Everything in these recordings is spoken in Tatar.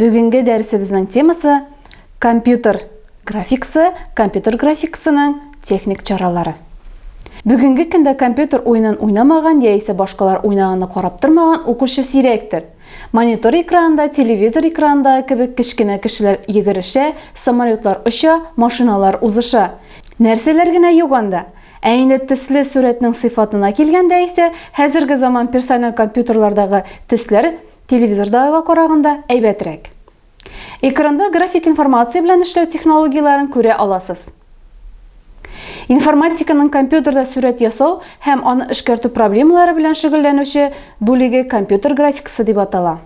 Бүгенге дәресебезнең темасы компьютер графикасы, компьютер графикасының техник чаралары. Бүгенге көндә компьютер уенын уйнамаган яисә башкалар уйнаганны карап тормаган укучы сирәктер. Монитор экранында, телевизор экранында кебек кечкенә кешеләр йөгерешә, самолетлар оча, машиналар узыша. Нәрсәләр генә юк анда! Ә инде төсле сурәтнең сыйфатына килгәндә исә, хәзерге заман персонал компьютерлардагы төсләр Телевизордагыга караганда әйбәтрәк. Экранда график информация белән эшләү технологияләрен күрә аласыз. Информатиканың компьютерда сүрәт ясау һәм аны эшкәртү проблемалары белән шөгыльләнүче бүлеге компьютер графикасы дип атала.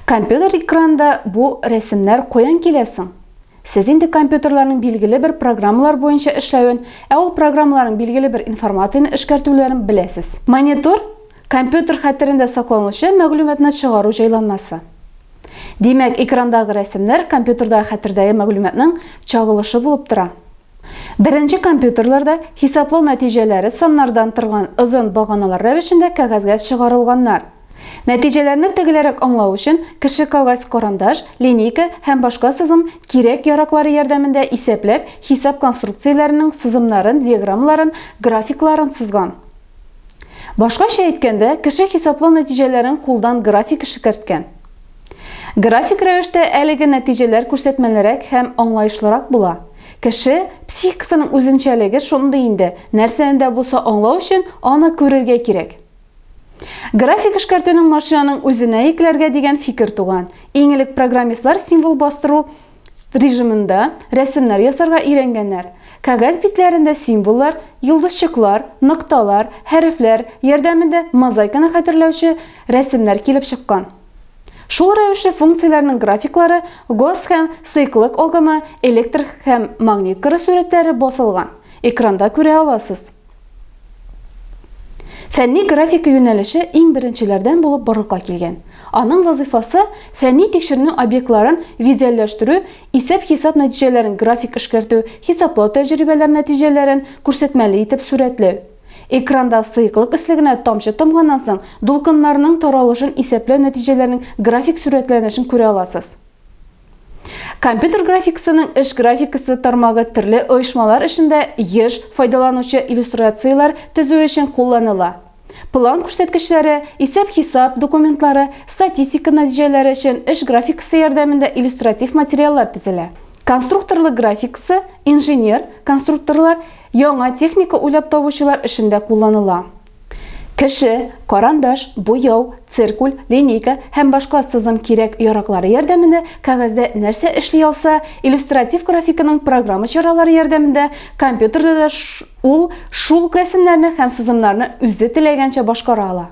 Компьютер экранында бу рәсемнәр каян килә соң? Сез инде компьютерларның билгеле бер программалар буенча эшләвен, ә ул программаларның билгеле бер информацияне эшкәртүләрен беләсез. Монитор Компьютер хәтерендә сакланучы мәгълүматны чыгару җайланмасы. Димәк, экрандагы рәсемнәр компьютердагы хәтердәге мәгълүматның чагылышы булып тора. Беренче компьютерларда хисаплау нәтиҗәләре саннардан торган озын баганалар рәвешендә кәгазьгә чыгарылганнар. Нәтиҗәләрне тегеләрәк аңлау өчен кеше кагазь карандаш, линейка һәм башка сызым кирәк-яраклары ярдәмендә исәпләп, хисап конструкцияләренең сызымнарын, диаграммаларын, графикларын сызган. Башкача әйткәндә, кеше хисаплау нәтиҗәләрен кулдан график эшкәрткән. График рәвештә әлеге нәтиҗәләр күрсәтмәлерәк һәм аңлаешлырак була. Кеше психикасының үзенчәлеге шундый инде, нәрсәне дә булса аңлау өчен аны күрергә кирәк. График эшкәртүнең машинаның үзенә йөкләргә дигән фикер туган. Иң элек программистлар символ бастыру режимында рәсемнәр ясарга өйрәнгәннәр. Кәгазь битләрендә символлар, йолдызчыклар, нокталар, хәрефләр ярдәмендә мозаиканы хәтерләүче рәсемнәр килеп чыккан. Шул рәвешле функцияләрнең графиклары, гос һәм сыйклык агымы, электр һәм магнит кыры сурәтләре басылган. Экранда күрә аласыз. Фәнни графика юнәлеше иң беренчеләрдән булып барлыкка килгән. Аның вазыйфасы фәнни тикшеренү объектларын визуальләштерү, исәп-хисап нәтиҗәләрен график эшкәртү, хисаплау тәҗрибәләр нәтиҗәләрен күрсәтмәле итеп сурәтләү. Экранда сыеклык өслегенә тамчы тамганнан соң дулкыннарның таралышын исәпләү нәтиҗәләренең график сурәтләнешен күрә аласыз. Компьютер графикасының эш графикасы тармагы төрле оешмалар эшендә еш файдаланучы иллюстрацияләр төзү өчен кулланыла. План күрсәткечләре, исәп-хисап документлары, статистика нәтиҗәләре өчен эш графикасы ярдәмендә иллюстратив материаллар төзелә. Конструкторлык графикасы инженер, конструкторлар, яңа техника уйлап табучылар эшендә кулланыла. Кеше, карандаш, буяу, циркуль, линейка һәм башка сызым кирәк-яраклары ярдәмендә кәгазьдә нәрсә эшли алса, иллюстратив графиканың программа чаралары ярдәмендә компьютерда да ул шул ук рәсемнәрне һәм сызымнарны үзе теләгәнчә башкара ала.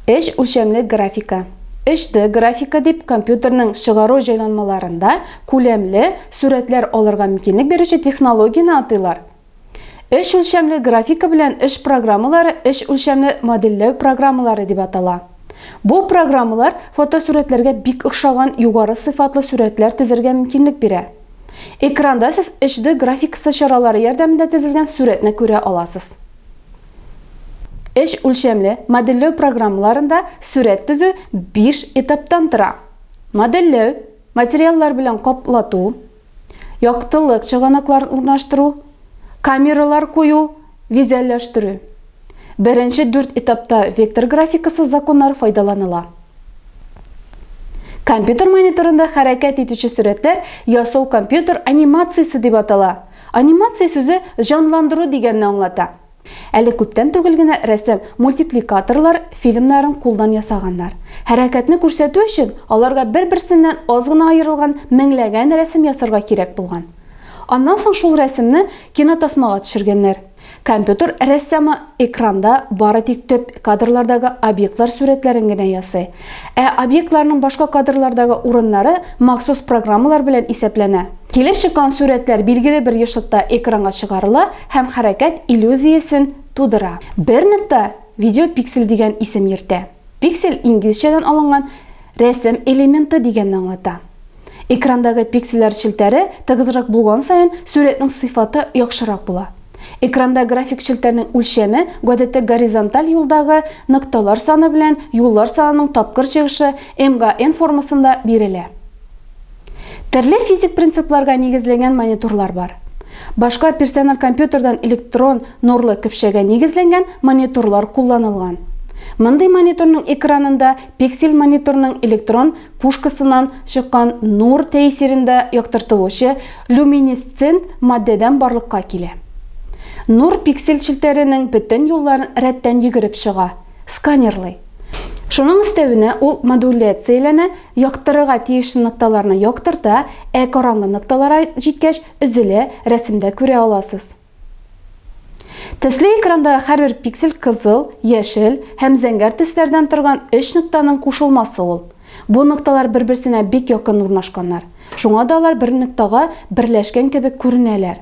Өч үлчәмле графика. 3D графика дип компьютерның чыгару җайланмаларында күләмле сурәтләр алырга мөмкинлек бирүче технологияне атыйлар. Өч үлчәмле графика белән эш программалары өч үлчәмле модельләү программалары дип атала. Бу программалар фотосурәтләргә бик охшаган югары сыйфатлы сурәтләр тезергә мөмкинлек бирә. Экранда сез 3D графикасы чаралары ярдәмендә тезелгән сурәтне күрә аласыз. Өч үлчәмле модельләү программаларында сурәт тезү биш этаптан тора. Модельләү, материаллар белән каплату, яктылык чыганакларын урнаштыру, камералар кую, визуальләштерү. Беренче дүрт этапта вектор графикасы законнары файдаланыла. Компьютер мониторында хәрәкәт итүче сурәтләр ясау компьютер анимациясе дип атала. Анимация сүзе җанландыру дигәнне аңлата. Әле күптән түгел генә рәсем мультипликаторлар фильмнарын кулдан ясаганнар. Хәрәкәтне күрсәтү өчен аларга бер-берсеннән аз гына аерылган меңләгән рәсем ясарга кирәк булган. Аннан соң шул рәсемне кинотасмага төшергәннәр. Компьютер рәссамы экранда бары тик төп кадрлардагы объектлар сурәтләрен генә ясый. Ә объектларның башка кадрлардагы урыннары махсус программалар белән исәпләнә. Килеп чыккан сурәтләр билгеле бер ешытта экранга чыгарыла, Һәм хәрәкәт иллюзиясен тудыра. Бер нетта видеопиксель дигән исем йөртә. Пиксель инглизчәдән алынган рәсем элементы дигәнне аңлата. Экрандагы пиксельләр челтәре тыгызрак булган саен сурәтнең сыйфаты яхшырак була. Экранда график челтәрнең үлчәме гадәттә горизонталь юлдагы нокталар саны белән юллар санының тапкыр чыгышы, MGN формасында, бирелә. Төрле физик принципларга нигезләнгән мониторлар бар. Башка персонал компьютердан электрон нурлы көпшәгә нигезләнгән мониторлар кулланылган. Мондый мониторның экранында пиксель мониторның электрон пушкасыннан чыккан нур тәэсирендә яктыртылучы люминесцент матдәдән барлыкка килә. Нур пиксель челтәренең бөтен юлларын рәттән йөгереп чыга, сканерлый. Шуның өстәвенә ул модуляцияләнә Яктырырга тиеш нокталарны яктырта, ә караңгы нокталара җиткәч, өзелә, рәсемдә күрә аласыз. Төсле экрандагы һәрбер пиксель кызыл, яшел һәм зәңгәр төсләрдән торган өч ноктаның кушылмасы ул. Бу нокталар бер-берсенә бик якын урнашканнар. Шуңа да алар бер ноктага берләшкән кебек күренәләр.